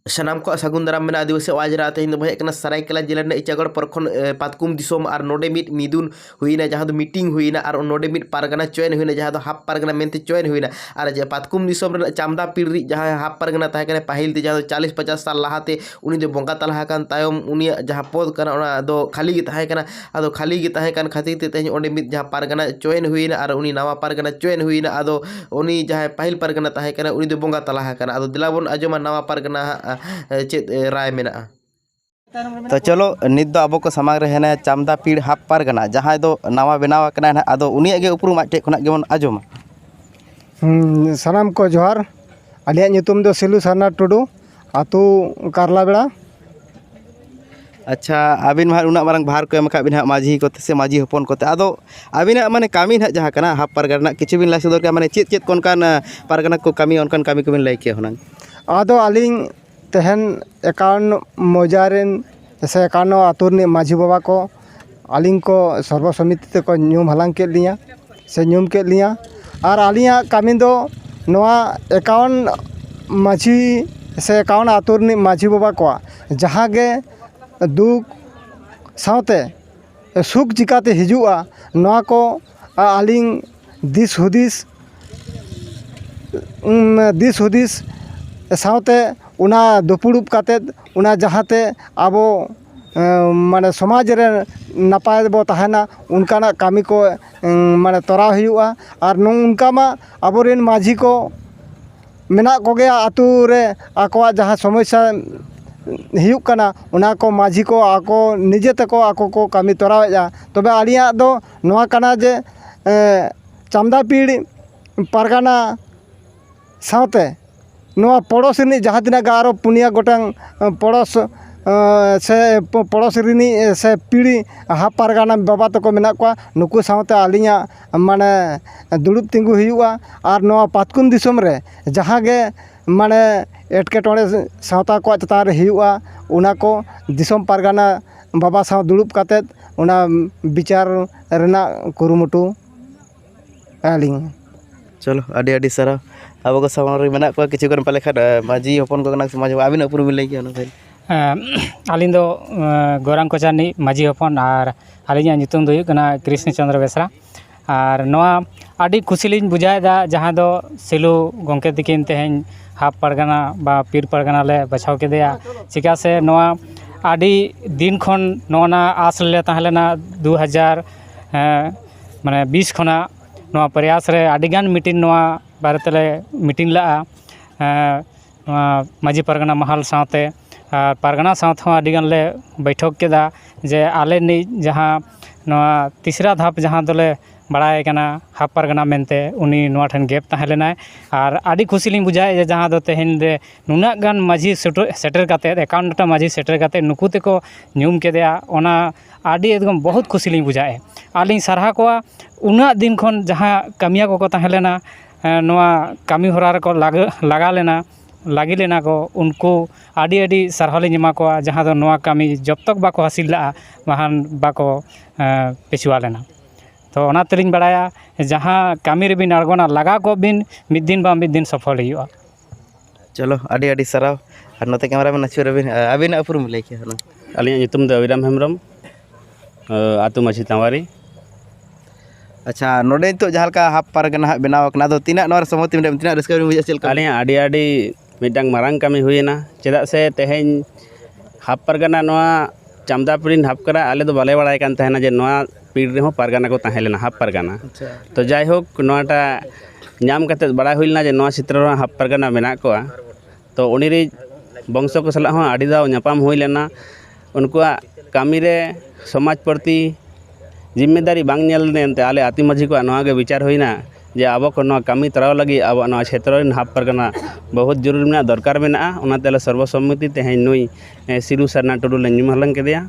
ᱥᱟᱱᱟᱢ ᱠᱚᱣᱟᱜ ᱥᱟᱹᱜᱩᱱ ᱫᱟᱨᱟᱢ ᱢᱮᱱᱟᱜᱼᱟ ᱟᱹᱫᱤᱵᱟᱹᱥᱤ ᱟᱣᱟᱡᱽ ᱨᱮ ᱛᱮᱦᱮᱧ ᱫᱚᱵᱚᱱ ᱦᱮᱡ ᱟᱠᱟᱱᱟ ᱥᱟᱨᱟᱭᱠᱮᱞᱟ ᱡᱮᱞᱟ ᱨᱮᱱᱟᱜ ᱤᱪᱟᱜᱚᱲ ᱯᱚᱨᱠᱷᱚᱸᱰ ᱯᱟᱛᱠᱩᱢ ᱫᱤᱥᱚᱢ ᱟᱨ ᱱᱚᱰᱮ ᱢᱤᱫ ᱢᱤᱫᱩᱱ ᱦᱩᱭᱱᱟ ᱡᱟᱦᱟᱸ ᱫᱚ ᱢᱤᱴᱤᱝ ᱦᱩᱭᱱᱟ ᱟᱨ ᱱᱚᱰᱮ ᱢᱤᱫ ᱯᱟᱨᱜᱟᱱᱟ ᱪᱚᱭᱮᱱ ᱦᱩᱭᱱᱟ ᱡᱟᱦᱟᱸ ᱫᱚ ᱦᱟᱯ ᱯᱟᱨᱜᱟᱱᱟ ᱢᱮᱱᱛᱮ ᱪᱚᱭᱮᱱ ᱦᱩᱭᱱᱟ ᱟᱨ ᱡᱮ ᱯᱟᱛᱠᱩᱢ ᱫᱤᱥᱚᱢ ᱨᱮᱱᱟᱜ ᱪᱟᱢᱫᱟ ᱯᱤᱲ ᱨᱤᱡ ᱡᱟᱦᱟᱸᱭ ᱦᱟᱯ ᱯᱟᱨᱜᱟᱱᱟ ᱛᱟᱦᱮᱸ ᱠᱟᱱᱟᱭ ᱯᱟᱹᱦᱤᱞ ᱛᱮ ᱡᱟᱦᱟᱸ ᱫᱚ ᱪᱟᱞᱤᱥ ᱯᱟᱪᱟᱥ ᱥᱟᱞ ᱞᱟᱦᱟᱛᱮ ᱩᱱᱤ ᱫᱚ ᱵᱚᱸᱜᱟ ᱛᱟᱞᱟ ᱟᱠᱟᱱ ᱛᱟᱭᱚᱢ ᱩᱱᱤᱭᱟᱜ ᱡᱟᱦᱟᱸ ᱯᱚᱫᱽ ᱠᱟᱱᱟ ᱚᱱᱟ ᱫᱚ ᱠᱷᱟᱹᱞᱤ ᱜᱮ ᱛᱟᱦᱮᱸ ᱠᱟᱱᱟ ᱟᱫᱚ ᱠᱷᱟᱹᱞᱤ ᱜᱮ ᱛᱟᱦᱮᱸ ᱠᱟᱱ ᱠᱷᱟᱹᱛᱤᱨ ᱛᱮ ᱛᱮᱦᱮᱧ ᱚᱸᱰᱮ ᱢᱤᱫ ᱡᱟᱦᱟᱸ ᱯᱟᱨᱜᱟᱱᱟᱭ ᱪᱚᱭᱮᱱ ᱦᱩᱭᱮᱱᱟ ᱟᱨ ᱩᱱᱤ ᱱᱟᱣᱟ ᱯᱟᱨᱜᱟᱱᱟᱭ ᱪᱚᱭᱮᱱ ᱦᱩᱭᱮᱱᱟ ᱟᱫᱚ ᱩᱱᱤ ᱡᱟᱦᱟᱸᱭ ᱯᱟᱹᱦᱤᱞ ᱯᱟᱨᱜᱟᱱᱟᱭ ᱛᱟᱦᱮᱸ ᱠᱟᱱᱟᱭ ᱩᱱᱤ ᱫᱚᱭ ᱵᱚᱸᱜᱟ ᱛᱟᱞᱟ ᱟᱠᱟᱱᱟ ᱟᱫᱚ ᱫᱮᱞᱟ ᱵᱚᱱ ᱟᱸᱡᱚᱢᱟ ᱱᱟᱣᱟ ᱯᱟᱨᱜᱟᱱᱟ ᱦᱟᱸᱜ ᱪᱮᱫ ᱨᱟᱭ ᱢᱮᱱᱟᱜᱼᱟ ᱛᱚ ᱪᱚᱞᱚ ᱱᱤᱛ ᱫᱚ ᱟᱵᱚ ᱠᱚ ᱥᱟᱢᱟᱝ ᱨᱮ ᱦᱮᱱᱟᱭᱟ ᱪᱟᱢᱫᱟ ᱯᱤᱲ ᱦᱟᱯ ᱯᱟᱨᱜᱟᱱᱟ ᱡᱟᱦᱟᱸᱭ ᱫᱚ ᱱᱟᱣᱟ ᱵᱮᱱᱟᱣ ᱟᱠᱟᱱᱟᱭ ᱱᱟᱦᱟᱜ ᱟᱫᱚ ᱩᱱᱤᱭᱟᱜ ᱜᱮ ᱩᱯᱨᱩᱢ ᱟᱡ ᱴᱷᱮᱡ ᱠᱷᱚᱱᱟᱜ ᱜᱮᱵᱚᱱ ᱟᱸᱡᱚᱢᱟ ᱥᱟᱱᱟᱢ ᱠᱚ ᱡᱚᱦᱟᱨ ᱟᱞᱮᱭᱟᱜ ᱧᱩᱛᱩᱢ ᱫᱚ ᱥᱤᱞᱩ ᱥᱟᱨᱱᱟ ᱴᱩᱰᱩ ᱟᱹᱛᱩ ᱠᱟᱨᱞᱟ ᱵᱮᱲᱟ ᱟᱪᱪᱷᱟ ᱟᱹᱵᱤᱱ ᱢᱟ ᱦᱟᱸᱜ ᱩᱱᱟᱹᱜ ᱢᱟᱨᱟᱝ ᱵᱷᱟᱨ ᱠᱚ ᱮᱢ ᱠᱟᱜ ᱵᱤᱱᱟ ᱦᱟᱸᱜ ᱢᱟᱹᱡᱷᱤ ᱠᱚᱛᱮ ᱥᱮ ᱢᱟᱹᱡᱷᱤ ᱦᱚᱯᱚᱱ ᱠᱚᱛᱮ ᱟᱫᱚ ᱟᱹᱵᱤᱱᱟᱜ ᱢᱟᱱᱮ ᱠᱟᱹᱢᱤ ᱦᱟᱸᱜ ᱡᱟᱦᱟᱸ ᱠᱟᱱᱟ ᱦᱟᱯ ᱯᱟᱨᱜᱟᱱᱟ ᱨᱮᱱᱟᱜ ᱠᱤᱪᱷᱩ ᱵᱤᱱ ᱞᱟᱹᱭ ᱥᱚᱫᱚᱨ ᱠᱮᱭᱟ ᱢᱟᱱᱮ ᱪᱮᱫ ᱪᱮᱫ ᱠᱚ ᱚᱱᱠᱟᱱ ᱯᱟᱨᱜᱟᱱᱟ ᱠᱚ ᱠᱟᱹᱢᱤᱭᱟ ᱚᱱᱠᱟᱱ ᱠᱟᱹᱢᱤ ᱠᱚᱵᱤᱱ ᱞᱟᱹᱭ ᱠᱮᱭᱟ ᱦᱩᱱᱟᱹᱝ ᱟᱫᱚ ᱟᱹᱞᱤᱧ ᱛᱮᱦᱮᱧ ᱮᱠᱟᱣᱩᱱᱴ ᱢᱚᱡᱟ ᱨᱮᱱ ᱥᱮ ᱮᱠᱟᱣᱩᱱᱴ ᱟᱹᱛᱩ ᱨᱤᱱᱤᱡ ᱢᱟᱹᱡᱷᱤ ᱵᱟᱵᱟ ᱠᱚ ᱟᱹᱞᱤᱧ ᱠᱚ ᱥᱚᱨᱵᱚ ᱥᱚᱢᱤᱛᱤ ᱛᱮᱠᱚ ᱧᱩᱢ ᱦᱟᱞᱟᱝ ᱠᱮᱫ ᱞᱤᱧᱟᱹ ᱥᱮ ᱧᱩᱢ ᱠᱮᱫ ᱞᱤᱧᱟᱹ ᱟᱨ ᱟᱹᱞᱤᱧᱟᱜ ᱠᱟᱹᱢᱤ ᱫᱚ ᱱᱚᱣᱟ ᱮᱠᱟᱣᱩᱱᱴ ᱢᱟᱹᱡᱷᱤ ᱥᱮ ᱮᱠᱟᱣᱩᱱᱴ ᱟᱹᱛᱩ ᱨᱤᱱᱤᱡ ᱢᱟᱹᱡᱷᱤ ᱵᱟᱵᱟ ᱠᱚᱣᱟᱜ ᱡᱟᱦᱟᱸ ᱜᱮ ᱫᱩᱠ ᱥᱟᱶᱛᱮ ᱥᱩᱠ ᱪᱤᱠᱟᱹᱛᱮ ᱦᱤᱡᱩᱜᱼᱟ ᱱᱚᱣᱟ ᱠᱚ ᱟᱹᱞᱤᱧ ᱫᱤᱥ ᱦᱩᱫᱤᱥ ᱫᱤᱥ ᱦᱩᱫᱤᱥ ᱥᱟᱶᱛᱮ ᱚᱱᱟ ᱫᱩᱯᱲᱩᱵ ᱠᱟᱛᱮᱫ ᱚᱱᱟ ᱡᱟᱦᱟᱸ ᱛᱮ ᱟᱵᱚ ᱢᱟᱱᱮ ᱥᱚᱢᱟᱡᱽ ᱨᱮ ᱱᱟᱯᱟᱭ ᱨᱮᱵᱚ ᱛᱟᱦᱮᱱᱟ ᱚᱱᱠᱟᱱᱟᱜ ᱠᱟᱹᱢᱤ ᱠᱚ ᱢᱟᱱᱮ ᱛᱚᱨᱟᱣ ᱦᱩᱭᱩᱜᱼᱟ ᱟᱨ ᱱᱚᱝᱠᱟ ᱢᱟ ᱟᱵᱚ ᱨᱮᱱ ᱢᱟᱹᱡᱷᱤ ᱠᱚ ᱢᱮᱱᱟᱜ ᱠᱚᱜᱮᱭᱟ ᱟᱹᱛᱩ ᱨᱮ ᱟᱠᱚᱣᱟᱜ ᱡᱟᱦᱟᱸ ᱥᱚᱢᱚᱥᱥᱟ ᱦᱩᱭᱩᱜ ᱠᱟᱱᱟ ᱚᱱᱟ ᱠᱚ ᱢᱟᱹᱡᱷᱤ ᱠᱚ ᱟᱠᱚ ᱱᱤᱡᱮ ᱛᱮᱠᱚ ᱟᱠᱚ ᱠᱚ ᱠᱟᱹᱢᱤ ᱛᱚᱨᱟᱣᱮᱫᱼᱟ ᱛᱚᱵᱮ ᱟᱹᱞᱤᱧᱟᱜ ᱫᱚ ᱱᱚᱣᱟ ᱠᱟᱱᱟ ᱡᱮ ᱪᱟᱢᱰᱟ ᱯᱤᱲ ᱯᱟᱨᱜᱟᱱᱟ ᱥᱟᱶᱛᱮ ᱱᱚᱣᱟ ᱯᱚᱲᱚᱥ ᱨᱤᱱᱤᱡ ᱡᱟᱦᱟᱸ ᱛᱤᱱᱟᱹᱜ ᱜᱮ ᱟᱨᱚ ᱯᱩᱱᱭᱟᱹ ᱜᱚᱴᱟᱝ ᱯᱚᱲᱚᱥ ᱥᱮ ᱯᱚᱲᱚᱥ ᱨᱤᱱᱤᱡ ᱥᱮ ᱯᱤᱲᱦᱤ ᱦᱟᱯ ᱯᱟᱨᱜᱟᱱᱟ ᱵᱟᱵᱟ ᱛᱟᱠᱚ ᱢᱮᱱᱟᱜ ᱠᱚᱣᱟ ᱱᱩᱠᱩ ᱥᱟᱶᱛᱮ ᱟᱹᱞᱤᱧᱟᱜ ᱢᱟᱱᱮ ᱫᱩᱲᱩᱵ ᱛᱤᱸᱜᱩ ᱦᱩᱭᱩᱜᱼᱟ ᱟᱨ ᱱᱚᱣᱟ ᱯᱟᱛᱠᱩᱢ ᱫᱤᱥᱚᱢ ᱨᱮ ᱡᱟᱦᱟᱸ ᱜᱮ ᱢᱟᱱᱮ ᱮᱴᱠᱮᱴᱚᱬᱮ ᱥᱟᱶᱛᱟ ᱠᱚᱣᱟᱜ ᱪᱮᱛᱟᱱ ᱨᱮ ᱦᱩᱭᱩᱜᱼᱟ ᱚᱱᱟ ᱠᱚ ᱫᱤᱥᱚᱢ ᱯᱟᱨᱜᱟᱱᱟ ᱵᱟᱵᱟ ᱥᱟᱶ ᱫᱩᱲᱩᱵ ᱠᱟᱛᱮᱫ ᱚᱱᱟ ᱵᱤᱪᱟᱨ ᱨᱮᱱᱟᱜ ᱠᱩᱨᱩᱢᱩᱴᱩ ᱟᱹᱞᱤᱧ ᱪᱚᱞᱚ ᱟᱹᱰᱤ ᱟᱹᱰᱤ ᱥᱟᱨᱦᱟᱣ ᱟᱵᱚ ᱠᱚ ᱥᱟᱢᱟᱝ ᱨᱮ ᱢᱮᱱᱟᱜ ᱠᱚᱣᱟ ᱠᱤᱪᱷᱩ ᱜᱟᱱ ᱯᱟᱞᱮ ᱠᱷᱟᱱ ᱢᱟᱹᱡᱷᱤ ᱦᱚᱯᱚᱱ ᱠᱚ ᱠᱟᱱᱟ ᱠᱚ ᱥᱮ ᱢᱟᱹᱡᱷᱤ ᱵᱟᱵᱟ ᱟᱹᱵᱤᱱᱟᱜ ᱩᱯᱨᱩᱢ ᱵᱤᱱ ᱞᱟᱹᱭ ᱠᱮᱭᱟ ᱚᱱᱟ ᱠᱟᱹᱡ ᱟᱹᱞᱤᱧ ᱫᱚ ᱜᱳᱨᱟᱝ ᱠᱚᱪᱟ ᱨᱤᱱᱤᱡ ᱢᱟᱹᱡᱷᱤ ᱦᱚᱯᱚᱱ ᱟᱨ ᱟᱹᱞᱤᱧᱟᱜ ᱧᱩᱛᱩᱢ ᱫᱚ ᱦᱩᱭᱩᱜ ᱠᱟᱱᱟ ᱠᱨᱤᱥᱱᱚ ᱪᱚᱱᱫᱨᱚ ᱵᱮᱥᱨᱟ ᱟᱨ ᱱᱚᱣᱟ ᱟᱹᱰᱤ ᱠᱩᱥᱤ ᱞᱤᱧ ᱵᱩᱡᱷᱟᱹᱣᱮᱫᱟ ᱡᱟᱦᱟᱸ ᱫᱚ ᱥᱤᱞᱩ ᱜᱚᱢᱠᱮ ᱛᱟᱹᱠᱤᱱ ᱛᱮᱦᱮᱧ ᱦᱟᱯ ᱯᱟᱨᱜᱟᱱᱟ ᱵᱟ ᱯᱤᱲ ᱯᱟᱨᱜᱟᱱᱟ ᱞᱮ ᱵᱟᱪᱷᱟᱣ ᱠᱮᱫᱮᱭᱟ ᱪᱤᱠᱟᱹ ᱥᱮ ᱱᱚᱣᱟ ᱟᱹᱰᱤ ᱫᱤᱱ ᱠᱷᱚᱱ ᱱᱚᱜᱼᱚ ᱱᱟ ᱟᱥ ᱨᱮᱞᱮ ᱛᱟᱦᱮᱸ ᱞᱮᱱᱟ ᱫᱩ ᱦᱟᱡᱟᱨ ᱢᱟᱱᱮ ᱵᱤᱥ ᱠᱷᱚᱱᱟᱜ ᱱᱚᱣᱟ ᱯᱨᱚᱭᱟᱥ ᱨᱮ ᱟᱹᱰᱤᱜᱟᱱ ᱢᱤᱴᱤᱝ ᱱᱚᱣᱟ ᱵᱟᱨᱮ ᱛᱮᱞᱮ ᱢᱤᱴᱤᱝ ᱞᱟᱜᱼᱟ ᱱᱚᱣᱟ ᱢᱟᱹᱡᱷᱤ ᱯᱟᱨᱜᱟᱱᱟ ᱢᱟᱦᱟᱞ ᱥᱟᱶᱛᱮ ᱟᱨ ᱯᱟᱨᱜᱟᱱᱟ ᱥᱟᱶ ᱛᱮᱦᱚᱸ ᱟᱹᱰᱤᱜᱟᱱ ᱞᱮ ᱵᱚᱭᱴᱷᱚᱠ ᱠᱮᱫᱟ ᱡᱮ ᱟᱞᱮ ᱱᱤᱡ ᱡᱟᱦᱟᱸ ᱱᱚᱣᱟ ᱛᱤᱥᱨᱟ ᱫᱷᱟᱯ ᱡᱟᱦᱟᱸ ᱫᱚᱞᱮ ᱵᱟᱲᱟᱭᱮ ᱠᱟᱱᱟ ᱦᱟᱯ ᱯᱟᱨᱜᱟᱱᱟ ᱢᱮᱱᱛᱮ ᱩᱱᱤ ᱱᱚᱣᱟ ᱴᱷᱮᱱ ᱜᱮᱯ ᱛᱟᱦᱮᱸ ᱞᱮᱱᱟᱭ ᱟᱨ ᱟᱹᱰᱤ ᱠᱩᱥᱤ ᱞᱤᱧ ᱵᱩᱡᱷᱟᱹᱣᱮᱫᱼᱟ ᱡᱮ ᱡᱟᱦᱟᱸ ᱫᱚ ᱛᱮᱦᱮᱧ ᱨᱮ ᱱᱩᱱᱟᱹᱜ ᱜᱟᱱ ᱢᱟᱹᱡᱷᱤ ᱥᱮᱴᱮᱨ ᱠᱟᱛᱮᱫ ᱮᱠᱟᱣᱱᱚᱴᱴᱤ ᱢᱟᱹᱡᱷᱤ ᱥᱮᱴᱮᱨ ᱠᱟᱛᱮᱫ ᱱᱩᱠᱩ ᱛᱮᱠᱚ ᱧᱩᱢ ᱠᱮᱫᱮᱭᱟ ᱚᱱᱟ ᱟᱹᱰᱤ ᱮᱠᱫᱚᱢ ᱵᱚᱦᱩᱫ ᱠᱩᱥᱤ ᱞᱤᱧ ᱵᱩᱡᱷᱟᱹᱣ ᱮᱫᱼᱟ ᱟᱨ ᱞᱤᱧ ᱥᱟᱨᱦᱟᱣ ᱠᱚᱣᱟ ᱩᱱᱟᱹᱜ ᱫᱤᱱ ᱠᱷᱚᱱ ᱡᱟᱦᱟᱸ ᱠᱟᱹᱢᱤᱭᱟᱹ ᱠᱚᱠᱚ ᱛᱟᱦᱮᱸ ᱞᱮᱱᱟ ᱱᱚᱣᱟ ᱠᱟᱹᱢᱤ ᱦᱚᱨᱟ ᱨᱮᱠᱚ ᱞᱟᱜᱟᱣ ᱞᱮᱱᱟ ᱞᱟᱹᱜᱤᱫ ᱞᱮᱱᱟ ᱠᱚ ᱩᱱᱠᱩ ᱟᱹᱰᱤ ᱟᱹᱰᱤ ᱥᱟᱨᱦᱟᱣ ᱞᱤᱧ ᱮᱢᱟ ᱠᱚᱣᱟ ᱡᱟᱦᱟᱸ ᱫᱚ ᱱᱚᱣᱟ ᱠᱟᱹᱢᱤ ᱡᱚᱵᱽ ᱛᱚᱠ ᱵᱟᱠᱚ ᱦᱟᱹᱥᱤᱞ ᱞᱟᱜᱼᱟ ᱵᱟᱠᱷᱟᱱ ᱵᱟᱠᱚ ᱯᱤᱪᱷᱩᱣᱟᱹ ᱞᱮᱱᱟ ᱛᱳ ᱚᱱᱟ ᱛᱮᱞᱤᱧ ᱵᱟᱲᱟᱭᱟ ᱡᱟᱦᱟᱸ ᱠᱟᱹᱢᱤ ᱨᱮᱵᱤᱱ ᱟᱬᱜᱚᱱᱟ ᱞᱟᱜᱟᱣ ᱠᱚᱜ ᱵᱤᱱ ᱢᱤᱫ ᱫᱤᱱ ᱵᱟᱝ ᱢᱤᱫ ᱫᱤᱱ ᱥᱚᱯᱷᱚᱞ ᱦᱩᱭᱩᱜᱼᱟ ᱪᱚᱞᱚ ᱟᱹᱰᱤ ᱟᱹᱰᱤ ᱥᱟᱨᱦᱟᱣ ᱟᱨ ᱱᱚᱛᱮ ᱠᱮᱢᱮᱨᱟ ᱢᱮᱱ ᱟᱹᱪᱩᱨ ᱟᱹᱵᱤᱱ ᱟᱹᱵᱤᱱᱟᱜ ᱩᱯᱨᱩᱢ ᱞᱟᱹᱭ ᱠᱮᱭᱟ ᱦᱩᱱᱟᱹᱝ ᱟᱹᱞᱤᱧᱟᱜ ᱧᱩᱛᱩᱢ ᱫᱚ ᱚᱵᱤᱨᱟᱢ ᱦᱮᱢᱵᱨᱚᱢ ᱟᱛᱳ ᱢᱟᱹᱡᱷᱤ ᱛᱟᱶᱟᱨᱤ ᱟᱪᱪᱷᱟ ᱱᱚᱰᱮ ᱱᱤᱛᱚᱜ ᱡᱟᱦᱟᱸ ᱞᱮᱠᱟ ᱦᱟᱯ ᱯᱟᱨᱠ ᱱᱟᱦᱟᱜ ᱵᱮᱱᱟᱣ ᱠᱟᱱᱟ ᱟᱫᱚ ᱛᱤᱱᱟᱹᱜ ᱱᱚᱣᱟ ᱨᱮ ᱥᱚᱦᱚᱢᱚᱛᱤ ᱢᱮᱱᱟᱜ ᱵᱤᱱᱟ ᱛᱤᱱᱟᱹᱜ ᱨᱟᱹᱥᱠᱟᱹ ᱵᱤᱱ ᱵᱩᱡᱷᱟᱹᱣᱮᱫᱼᱟ ᱪᱮᱫ ᱞᱮᱠᱟ ᱟᱹᱞᱤᱧᱟᱜ ᱟᱹᱰᱤ ᱟᱹᱰᱤ ᱢᱤᱫᱴᱟᱝ ᱢᱟᱨᱟᱝ ᱠᱟᱹᱢᱤ ᱦᱩᱭᱮᱱᱟ ᱪᱮᱫᱟᱜ ᱥᱮ ᱛᱮᱦᱮᱧ ᱦᱟᱯ ᱯᱟᱨᱜᱟᱱᱟ ᱱᱚᱣᱟ ᱪᱟᱢᱫᱟᱯᱩᱨᱤ ᱦᱟᱯ ᱠᱟᱱᱟ ᱟᱞᱮ ᱫᱚ ᱵᱟᱞᱮ ᱵᱟᱲᱟᱭ ᱠᱟᱱ ᱛᱟᱦᱮᱱᱟ ᱡᱮ ᱱᱚᱣᱟ ᱯᱤᱲ ᱨᱮᱦᱚᱸ ᱯᱟᱨᱜᱟᱱᱟ ᱠᱚ ᱛᱟᱦᱮᱸ ᱞᱮᱱᱟ ᱦᱟᱯ ᱯᱟᱨᱜᱟᱱᱟ ᱛᱚ ᱡᱟᱭᱦᱳᱠ ᱱᱚᱣᱟᱴᱟᱜ ᱧᱟᱢ ᱠᱟᱛᱮᱫ ᱵᱟᱲᱟᱭ ᱦᱩᱭ ᱞᱮᱱᱟ ᱡᱮ ᱱᱚᱣᱟ ᱪᱷᱮᱛᱨᱚ ᱨᱮᱦᱚᱸ ᱦᱟᱯ ᱯᱟᱨᱜᱟᱱᱟ ᱢᱮᱱᱟᱜ ᱠᱚᱣᱟ ᱛᱚ ᱩᱱᱤ ᱨᱮᱱ ᱵᱚᱝᱥᱚ ᱠᱚ ᱥᱟᱞᱟᱜ ᱦᱚᱸ ᱟᱹᱰᱤ ᱫᱷᱟᱣ ᱧᱟᱯᱟᱢ ᱦᱩᱭ ᱞᱮᱱᱟ ᱩᱱᱠᱩᱣᱟᱜ ᱠᱟᱹᱢᱤ ᱨᱮ ᱥᱚᱢᱟᱡᱽ ᱯᱨᱚᱛᱤ ᱡᱤᱢᱢᱮᱫᱟᱨᱤ ᱵᱟᱝ ᱧᱮᱞ ᱞᱮᱱᱛᱮ ᱟᱞᱮ ᱟᱹᱛᱩ ᱢᱟᱹᱡᱷᱤ ᱠᱚᱣᱟᱜ ᱱᱚᱣᱟ ᱜᱮ ᱵᱤᱪᱟᱹᱨ ᱦᱩᱭᱱᱟ ᱡᱮ ᱟᱵᱚ ᱠᱚ ᱱᱚᱣᱟ ᱠᱟᱹᱢᱤ ᱛᱚᱨᱟᱣ ᱞᱟᱹᱜᱤᱫ ᱟᱵᱚᱣᱟᱜ ᱱᱚᱣᱟ ᱪᱷᱮᱛᱨᱚ ᱨᱮᱱ ᱦᱟᱯ ᱯᱟᱨᱜᱟᱱᱟ ᱵᱚᱦᱩᱛ ᱡᱟᱹᱨᱩᱲ ᱢᱮᱱᱟᱜᱼᱟ ᱫᱚᱨᱠᱟᱨ ᱢᱮᱱᱟᱜᱼᱟ ᱚᱱᱟᱛᱮ ᱟᱞᱮ ᱥᱚᱨᱵᱚ ᱥᱚᱢᱢᱚᱛᱤ ᱛᱮᱦᱮᱧ ᱱᱩᱭ ᱥᱤᱫᱩ ᱥᱟᱨᱱᱟ ᱴᱩᱰᱩ ᱞᱮ ᱧᱩᱢ ᱦᱟᱞᱟᱝ ᱠᱮᱫᱮᱭᱟ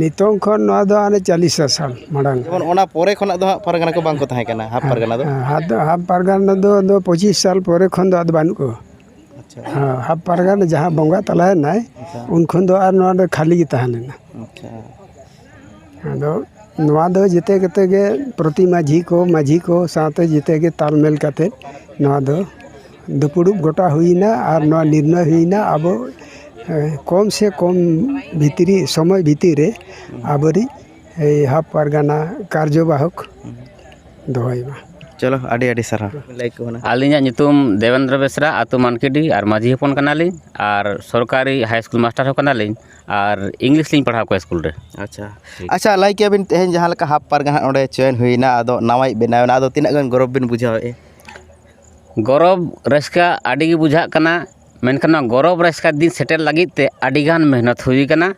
ᱱᱤᱛᱚᱝ ᱠᱷᱚᱱ ᱱᱚᱣᱟ ᱫᱚ ᱦᱟᱱᱮ ᱪᱟᱞᱤᱥ ᱥᱟᱞ ᱢᱟᱲᱟᱝ ᱡᱮᱢᱚᱱ ᱚᱱᱟ ᱯᱚᱨᱮ ᱠᱷᱚᱱᱟᱜ ᱫᱚ ᱦᱟᱸᱜ ᱯᱟᱨᱜᱟᱱᱟ ᱠᱚ ᱵᱟᱝ ᱠᱚ ᱛᱟᱦᱮᱸ ᱠᱟᱱᱟ ᱦᱟᱯ ᱯᱟᱨᱜᱟᱱᱟ ᱫᱚ ᱟᱫᱚ ᱦᱟᱯ ᱯᱟᱨᱜᱟᱱᱟ ᱫᱚ ᱟᱫᱚ ᱯᱚᱸᱪᱤᱥ ᱥᱟᱞ ᱯᱚᱨᱮ ᱠᱷᱚᱱ ᱫᱚ ᱟᱫᱚ ᱵᱟᱹᱱᱩᱜ ᱠᱚᱣᱟ ᱟᱪᱪᱷᱟ ᱦᱮᱸ ᱦᱟᱯ ᱯᱟᱨᱜᱟᱱᱟ ᱡᱟᱦᱟᱸ ᱵᱚᱸᱜᱟ ᱛᱟᱞᱟᱭᱮᱱᱟᱭ ᱟᱪᱪᱷᱟ ᱩᱱ ᱠᱷᱚᱱ ᱫᱚ ᱟᱨ ᱱᱚᱣᱟ ᱫᱚ ᱠᱷᱟᱹᱞᱤ ᱜᱮ ᱛᱟᱦᱮᱸ ᱞᱮᱱᱟ ᱟᱪᱪᱷᱟ ᱟᱫᱚ ᱱᱚᱣᱟ ᱫᱚ ᱡᱮᱛᱮ ᱠᱚᱛᱮ ᱜᱮ ᱯᱨᱚᱛᱤ ᱢᱟᱹᱡᱷᱤ ᱠᱚ ᱢᱟᱹᱡᱷᱤ ᱠᱚ ᱥᱟᱶᱛᱮ ᱡᱮᱛᱮ ᱜᱮ ᱛᱟᱞᱢᱮᱞ ᱠᱟᱛᱮᱫ ᱱᱚᱣᱟ ᱫᱚ ᱫᱩᱯᱲᱩᱵ ᱜᱚᱴᱟ ᱦᱩᱭᱮᱱᱟ ᱟᱨ ᱱᱚᱣᱟ ᱱᱤᱨᱱᱚᱭ ᱦᱩᱭᱮᱱᱟ ᱟᱵᱚ ᱠᱚᱢ ᱥᱮ ᱠᱚᱢ ᱵᱷᱤᱛᱨᱤ ᱥᱚᱢᱚᱭ ᱵᱷᱤᱛᱤᱨ ᱨᱮ ᱟᱵᱚᱨᱤᱡ ᱦᱟᱯ ᱯᱟᱨᱜᱟᱱᱟ ᱠᱟᱨᱡᱚ ᱵᱟᱦᱚᱠ ᱫᱚᱦᱚᱭᱮ ᱢᱟ ᱪᱚᱞᱚ ᱟᱹᱰᱤ ᱟᱹᱰᱤ ᱥᱟᱨᱦᱟᱣ ᱞᱟᱹᱭ ᱠᱚ ᱠᱟᱱᱟ ᱟᱹᱞᱤᱧᱟᱜ ᱧᱩᱛᱩᱢ ᱫᱮᱵᱮᱱᱫᱨᱚ ᱵᱮᱥᱨᱟ ᱟᱹᱛᱩ ᱢᱟᱱᱠᱤᱰᱤ ᱟᱨ ᱢᱟᱹᱡᱷᱤ ᱦᱚᱯᱚᱱ ᱠᱟᱱᱟᱞᱤᱧ ᱟᱨ ᱥᱚᱨᱠᱟᱨᱤ ᱦᱟᱭ ᱥᱠᱩᱞ ᱢᱟᱥᱴᱟᱨ ᱦᱚᱸ ᱠᱟᱱᱟᱞᱤᱧ ᱟᱨ ᱤᱝᱞᱤᱥ ᱞᱤᱧ ᱯᱟᱲᱦᱟᱣ ᱠᱚᱣᱟ ᱥᱠᱩᱞ ᱨᱮ ᱟᱪᱪᱷᱟ ᱟᱪᱪᱷᱟ ᱞᱟᱹᱭ ᱠᱮᱜᱼᱟ ᱵᱤᱱ ᱛᱮᱦᱮᱧ ᱡᱟᱦᱟᱸ ᱞᱮᱠᱟ ᱦᱟᱯ ᱯᱟᱨᱜᱟᱱᱟ ᱱᱚᱰᱮ ᱪᱚᱭᱮᱱ ᱦᱩᱭᱱᱟ ᱟᱫᱚ ᱱᱟᱣᱟᱭᱤᱡ ᱵᱮᱱᱟᱣ ᱮᱱᱟ ᱟᱫᱚ ᱛᱤᱱᱟᱹᱜ ᱜᱟᱱ ᱜᱚᱨᱚᱵᱽ ᱵᱤᱱ ᱵᱩᱡᱷᱟᱹᱣᱮᱜᱼᱟ ᱜᱚᱨᱚᱵᱽ ᱨᱟᱹᱥᱠᱟᱹ ᱟᱹᱰᱤ ᱜᱮ ᱵᱩᱡᱷᱟᱹᱜ ᱠᱟᱱᱟ ᱢᱮᱱᱠᱷᱟᱱ ᱱᱚᱣᱟ ᱜᱚᱨᱚᱵᱽ ᱨᱟᱹᱥᱠᱟᱹ ᱫᱤᱱ ᱥᱮᱴᱮᱨ ᱞᱟᱹᱜᱤᱫ ᱛᱮ ᱟᱹᱰᱤ ᱜᱟᱱ ᱢᱮᱦᱱᱚᱛ ᱦᱩᱭ ᱠᱟᱱᱟ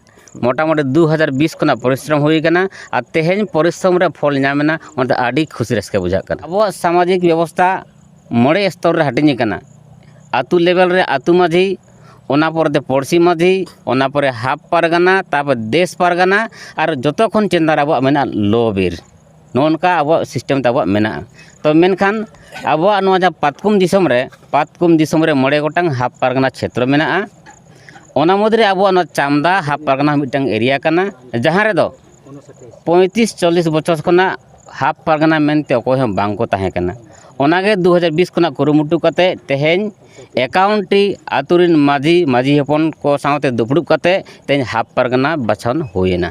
ᱢᱳᱴᱟᱢᱩᱴᱤ ᱫᱩ ᱦᱟᱡᱟᱨ ᱵᱤᱥ ᱠᱷᱚᱱᱟᱜ ᱯᱚᱨᱤᱥᱨᱚᱢ ᱦᱩᱭ ᱠᱟᱱᱟ ᱟᱨ ᱛᱮᱦᱮᱧ ᱯᱚᱨᱤᱥᱨᱚᱢ ᱨᱮ ᱯᱷᱚᱞ ᱧᱟᱢ ᱮᱱᱟ ᱚᱱᱟᱛᱮ ᱟᱹᱰᱤ ᱠᱩᱥᱤ ᱨᱟᱹᱥᱠᱟᱹ ᱵᱩᱡᱷᱟᱹᱜ ᱠᱟᱱᱟ ᱟᱵᱚᱣᱟᱜ ᱥᱟᱢᱟᱡᱤᱠ ᱵᱮᱵᱚᱥᱛᱷᱟ ᱢᱚᱬᱮ ᱥᱛᱚᱨ ᱨᱮ ᱦᱟᱹᱴᱤᱧ ᱠᱟᱱᱟ ᱟᱹᱛᱩ ᱞᱮᱵᱮᱞ ᱨᱮ ᱟᱹᱛᱩ ᱢᱟᱹᱡᱷᱤ ᱚᱱᱟ ᱯᱚᱨᱮᱛᱮ ᱯᱩᱲᱥᱤ ᱢᱟᱹᱡᱷᱤ ᱚᱱᱟ ᱯᱚᱨᱮ ᱦᱟᱯ ᱯᱟᱨᱜᱟᱱᱟ ᱛᱟᱨᱯᱚᱨᱮ ᱫᱮᱥ ᱯᱟᱨᱜᱟᱱᱟ ᱟᱨ ᱡᱚᱛᱚ ᱠᱷᱚᱱ ᱪᱮᱛᱟᱱ ᱨᱮ ᱟᱵᱚᱣᱟᱜ ᱢᱮᱱᱟᱜᱼᱟ ᱞᱚᱼᱵᱤᱨ ᱱᱚᱜᱼᱚ ᱱᱚᱝᱠᱟ ᱟᱵᱚᱣᱟᱜ ᱥᱤᱥᱴᱮᱢ ᱛᱟᱵᱚᱱ ᱢᱮᱱᱟᱜᱼᱟ ᱛᱳ ᱢᱮᱱᱠᱷᱟᱱ ᱟᱵᱚᱣᱟᱜ ᱱᱚᱣᱟ ᱡᱟᱦᱟᱸ ᱯᱟᱛᱠᱚᱢ ᱫᱤᱥᱚᱢ ᱨᱮ ᱯᱟᱛᱠᱚᱢ ᱫᱤᱥᱚᱢ ᱨᱮ ᱢᱚᱬᱮ ᱜᱚᱴᱟᱝ ᱦᱟᱯ ᱯᱟᱨᱜᱟᱱᱟ ᱪᱷᱮᱛᱨᱚ ᱢᱮᱱᱟᱜᱼᱟ ᱚᱱᱟ ᱢᱩᱫᱽᱨᱮ ᱟᱵᱚᱣᱟᱜ ᱱᱚᱣᱟ ᱪᱟᱢᱫᱟ ᱦᱟᱯ ᱯᱟᱨᱜᱟᱱᱟ ᱦᱚᱸ ᱢᱤᱫᱴᱟᱱ ᱮᱨᱤᱭᱟ ᱠᱟᱱᱟ ᱡᱟᱦᱟᱸ ᱨᱮᱫᱚ ᱯᱚᱸᱭᱛᱨᱤᱥ ᱪᱚᱞᱞᱤᱥ ᱵᱚᱪᱷᱚᱨ ᱠᱷᱚᱱᱟᱜ ᱦᱟᱯ ᱯᱟᱨᱜᱟᱱᱟ ᱢᱮᱱᱛᱮ ᱚᱠᱚᱭ ᱦᱚᱸ ᱵᱟᱝ ᱠᱚ ᱛᱟᱦᱮᱸ ᱠᱟᱱᱟ ᱚᱱᱟᱜᱮ ᱫᱩ ᱦᱟᱡᱟᱨ ᱵᱤᱥ ᱠᱷᱚᱱᱟᱜ ᱠᱩᱨᱩᱢᱩᱴᱩ ᱠᱟᱛᱮᱫ ᱛᱮᱦᱮᱧ ᱮᱠᱟᱣᱩᱱᱴᱤ ᱟᱹᱛᱩ ᱨᱮᱱ ᱢᱟᱹᱡᱷᱤ ᱢᱟᱹᱡᱷᱤ ᱦᱚᱯᱚᱱ ᱠᱚ ᱥᱟᱶᱛᱮ ᱫᱩᱯᱲᱩᱵ ᱠᱟᱛᱮᱫ ᱛᱮᱦᱮᱧ ᱦᱟᱯ ᱯᱟᱨᱜᱟᱱᱟ ᱵᱟᱪᱷᱚᱱ ᱦᱩᱭᱮᱱᱟ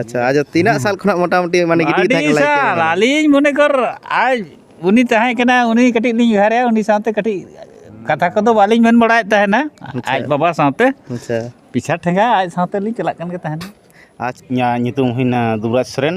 ᱟᱪᱪᱷᱟ ᱟᱪᱪᱷᱟ ᱛᱤᱱᱟᱹᱜ ᱥᱟᱞ ᱠᱷᱚᱱᱟᱜ ᱢᱚᱴᱟᱢᱩᱴᱤ ᱢᱟᱱᱮ ᱜᱤᱫᱽᱨᱟᱹ ᱟᱹᱰᱤ ᱛᱟᱦᱮᱸ ᱥᱟᱞ ᱠᱟᱱᱟ ᱟᱹᱞᱤᱧ ᱢᱚᱱᱮ ᱠᱚᱨ ᱟᱡ ᱩᱱᱤ ᱛᱟᱦᱮᱸ ᱠᱟᱱᱟ ᱩᱱᱤ ᱠᱟᱹᱴᱤᱡ ᱞᱤᱧ ᱩᱭᱦᱟᱹᱨᱮ ᱩᱱᱤ ᱥᱟᱶᱛᱮ ᱠᱟᱹᱴᱤᱡ ᱠᱟᱛᱷᱟ ᱠᱚᱫᱚ ᱵᱟᱹᱞᱤᱧ ᱢᱮᱱ ᱵᱟᱲᱟᱭᱮᱫ ᱛᱟᱦᱮᱱᱟ ᱟᱡ ᱵᱟᱵᱟ ᱥᱟᱶᱛᱮ ᱟᱪᱪᱷᱟ ᱯᱤᱪᱷᱟ ᱴᱷᱮᱸᱜᱟ ᱟᱡ ᱥᱟᱶᱛᱮ ᱞᱤᱧ ᱪᱟᱞᱟᱜ ᱠᱟᱱ ᱜᱮ ᱛᱟᱦᱮᱱᱟ ᱟᱡ ᱤᱧᱟᱹᱜ ᱧᱩᱛᱩᱢ ᱦᱩᱭᱱᱟ ᱫᱩᱵᱽᱨᱟᱡᱽ ᱥᱚᱨᱮᱱ